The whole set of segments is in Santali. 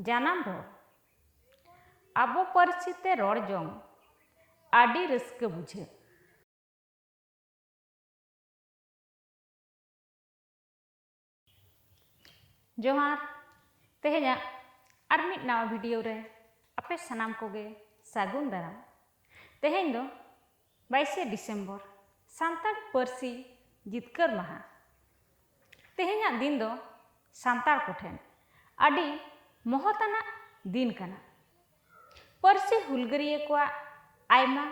ᱡᱟᱱᱟᱢ ᱨᱚᱲ ᱟᱵᱚ ᱯᱟᱹᱨᱥᱤ ᱛᱮ ᱨᱚᱲ ᱡᱚᱝ ᱟᱹᱰᱤ ᱨᱟᱹᱥᱠᱟᱹ ᱵᱩᱡᱷᱟᱹᱜ ᱡᱚᱦᱟᱨ ᱛᱮᱦᱮᱧᱟᱜ ᱟᱨ ᱢᱤᱫ ᱱᱟᱣᱟ ᱵᱷᱤᱰᱤᱭᱳ ᱨᱮ ᱟᱯᱮ ᱥᱟᱱᱟᱢ ᱠᱚᱜᱮ ᱥᱟᱹᱜᱩᱱ ᱫᱟᱨᱟᱢ ᱛᱮᱦᱮᱧ ᱫᱚ ᱵᱟᱭᱤᱥᱮ ᱰᱤᱥᱮᱢᱵᱚᱨ ᱥᱟᱱᱛᱟᱲ ᱯᱟᱹᱨᱥᱤ ᱡᱤᱛᱠᱟᱹᱨ ᱢᱟᱦᱟ ᱛᱮᱦᱮᱧᱟᱜ ᱫᱤᱱ ᱫᱚ ᱥᱟᱱᱛᱟᱲ ᱠᱚᱴᱷᱮᱱ ᱟᱹᱰᱤ ᱢᱚᱦᱚᱛᱟᱱᱟᱜ ᱫᱤᱱ ᱠᱟᱱᱟ ᱯᱟᱹᱨᱥᱤ ᱦᱩᱞᱜᱟᱹᱨᱤᱭᱟᱹ ᱠᱚᱣᱟᱜ ᱟᱭᱢᱟ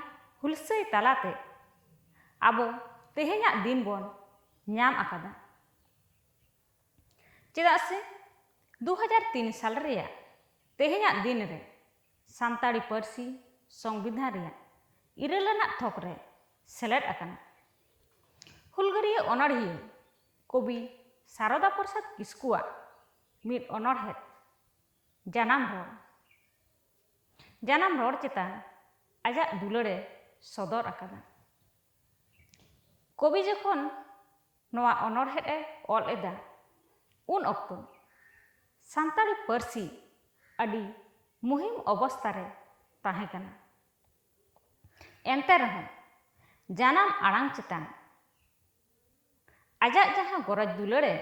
ᱦᱩᱞᱥᱟᱹᱭ ᱛᱟᱞᱟᱛᱮ ᱟᱵᱚ ᱛᱮᱦᱮᱧᱟᱜ ᱫᱤᱱ ᱵᱚᱱ ᱧᱟᱢ ᱟᱠᱟᱫᱟ ᱪᱮᱫᱟᱜ ᱥᱮ ᱫᱩ ᱦᱟᱡᱟᱨ ᱛᱤᱱ ᱥᱟᱞ ᱨᱮᱭᱟᱜ ᱛᱮᱦᱮᱧᱟᱜ ᱫᱤᱱ ᱨᱮ ᱥᱟᱱᱛᱟᱲᱤ ᱯᱟᱹᱨᱥᱤ ᱥᱚᱝᱵᱤᱫᱷᱟᱱ ᱨᱮᱭᱟᱜ ᱤᱨᱟᱹᱞ ᱟᱱᱟᱜ ᱛᱷᱚᱠ ᱨᱮ ᱥᱮᱞᱮᱫ ᱟᱠᱟᱱᱟ᱾ ᱦᱩᱞᱜᱟᱹᱨᱤᱭᱟᱹ ᱚᱱᱚᱬᱦᱤᱭᱟᱹ ᱠᱚᱵᱤ ᱥᱟᱨᱚᱫᱟ ᱯᱨᱚᱥᱟᱫᱽ ᱠᱤᱥᱠᱩᱣᱟᱜ ᱢᱤᱫ ᱚᱱᱚᱬᱦᱮᱫ ᱡᱟᱱᱟᱢ ᱨᱚᱲ ᱡᱟᱱᱟᱢ ᱨᱚᱲ ᱪᱮᱛᱟᱱ ᱟᱡᱟᱜ ᱫᱩᱞᱟᱹᱲ ᱮ ᱥᱚᱫᱚᱨ ᱟᱠᱟᱫᱟ᱾ ᱠᱚᱵᱤ ᱡᱚᱠᱷᱚᱱ ᱱᱚᱣᱟ ᱚᱱᱚᱬᱦᱮᱸ ᱮ ᱚᱞ ᱮᱫᱟ ᱩᱱ ᱚᱠᱛᱚ ᱥᱟᱱᱛᱟᱲᱤ ᱯᱟᱹᱨᱥᱤ ᱟᱹᱰᱤ ᱢᱩᱦᱤᱢ ᱚᱵᱚᱥᱛᱟ ᱨᱮ ᱛᱟᱦᱮᱸ ᱠᱟᱱᱟ ᱮᱱᱛᱮ ᱨᱮᱦᱚᱸ ᱡᱟᱱᱟᱢ ᱟᱲᱟᱝ ᱪᱮᱛᱟᱱ ᱟᱡᱟᱜ ᱡᱟᱦᱟᱸ ᱜᱚᱨᱚᱡᱽ ᱫᱩᱞᱟᱹᱲ ᱮ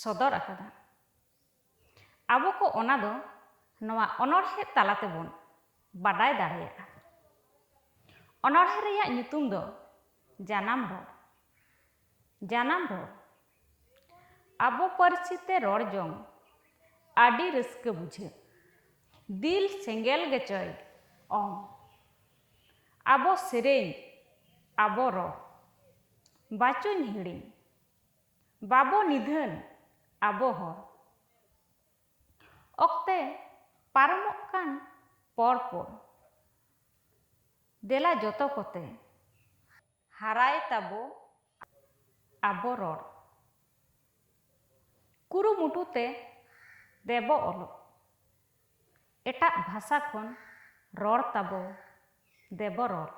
ᱥᱚᱫᱚᱨ ᱟᱠᱟᱫᱟ ᱟᱵᱚ ᱠᱚ ᱚᱱᱟ ᱫᱚ ᱱᱚᱣᱟ ᱚᱱᱚᱬᱦᱮᱸ ᱛᱟᱞᱟ ᱛᱮᱵᱚᱱ ᱵᱟᱰᱟᱭ ᱫᱟᱲᱮᱭᱟᱜᱼᱟ᱾ ᱚᱱᱚᱬᱦᱮᱸ ᱨᱮᱭᱟᱜ ᱧᱩᱛᱩᱢ ᱫᱚ ᱡᱟᱱᱟᱢ ᱨᱚᱲ᱾ ᱡᱟᱱᱟᱢ ᱨᱚᱲ᱾ ᱟᱵᱚ ᱯᱟᱹᱨᱥᱤ ᱛᱮ ᱨᱚᱲ ᱡᱚᱝ ᱟᱹᱰᱤ ᱨᱟᱹᱥᱠᱟᱹ ᱵᱩᱡᱷᱟᱹᱜ᱾ ᱫᱤᱞ ᱥᱮᱸᱜᱮᱞ ᱜᱮᱪᱚᱭ ᱚᱝ᱾ ᱟᱵᱚ ᱥᱮᱨᱮᱧ, ᱟᱵᱚ ᱨᱚᱲ᱾ ᱵᱟᱪᱚᱧ ᱦᱤᱲᱤᱧ᱾ ᱵᱟᱵᱚ ᱱᱤᱫᱷᱟᱹᱱ ᱟᱵᱚ ᱦᱚᱲ᱾ ᱚᱠᱛᱮ ᱯᱟᱨᱚᱢᱚᱜ ᱠᱟᱱ ᱯᱚᱨ ᱯᱚᱨ᱾ ᱫᱮᱞᱟ ᱡᱚᱛᱚ ᱠᱚᱛᱮ ᱦᱟᱨᱟᱭ ᱛᱟᱵᱚ ᱟᱵᱚ ᱨᱚᱲ᱾ ᱠᱩᱨᱩᱢᱩᱴᱩ ᱛᱮ ᱫᱮᱵᱚ ᱚᱞᱚᱜ᱾ ᱮᱴᱟᱜ ᱵᱷᱟᱥᱟ ᱠᱷᱚᱱ ᱨᱚᱲ ᱛᱟᱵᱚ ᱫᱮᱵᱚ ᱨᱚᱲ᱾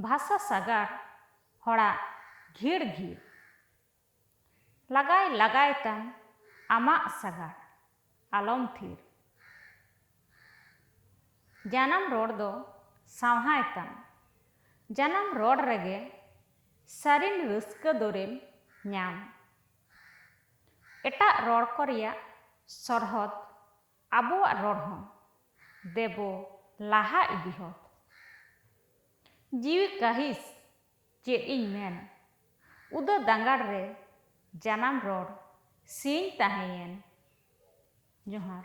ᱵᱷᱟᱥᱟ ᱥᱟᱜᱟᱲ ᱦᱚᱲᱟᱜ ᱜᱷᱤᱲ ᱜᱷᱤᱲ᱾ ᱞᱟᱜᱟᱭ ᱞᱟᱜᱟᱭ ᱛᱟᱢ ᱟᱢᱟᱜ ᱥᱟᱜᱟᱲ ᱟᱞᱚᱢ ᱛᱷᱤᱨ᱾ ᱡᱟᱱᱟᱢ ᱨᱚᱲ ᱫᱚ ᱥᱟᱶᱦᱟᱭ ᱛᱟᱢ᱾ ᱡᱟᱱᱟᱢ ᱨᱚᱲ ᱨᱮᱜᱮ ᱥᱟᱹᱨᱤᱱ ᱨᱟᱹᱥᱠᱟᱹ ᱫᱚᱨᱮᱢ ᱧᱟᱢ᱾ ᱮᱴᱟᱜ ᱨᱚᱲ ᱠᱚ ᱨᱮᱭᱟᱜ ᱥᱚᱨᱦᱚᱫᱽ ᱟᱵᱚᱣᱟᱜ ᱨᱚᱲ ᱦᱚᱸ ᱫᱮᱵᱚ ᱞᱟᱦᱟ ᱤᱫᱤ ᱦᱚᱫ᱾ ᱡᱤᱣᱤ ᱠᱟᱹᱦᱤᱥ ᱪᱮᱫ ᱤᱧ ᱢᱮᱱ ᱩᱫᱟᱹ ᱫᱟᱸᱜᱟᱲ ᱨᱮ ᱡᱟᱱᱟᱢ ᱨᱚᱲ ᱥᱤᱧ ᱛᱟᱦᱮᱸᱭᱮᱱ᱾ ᱡᱚᱦᱟᱨ᱾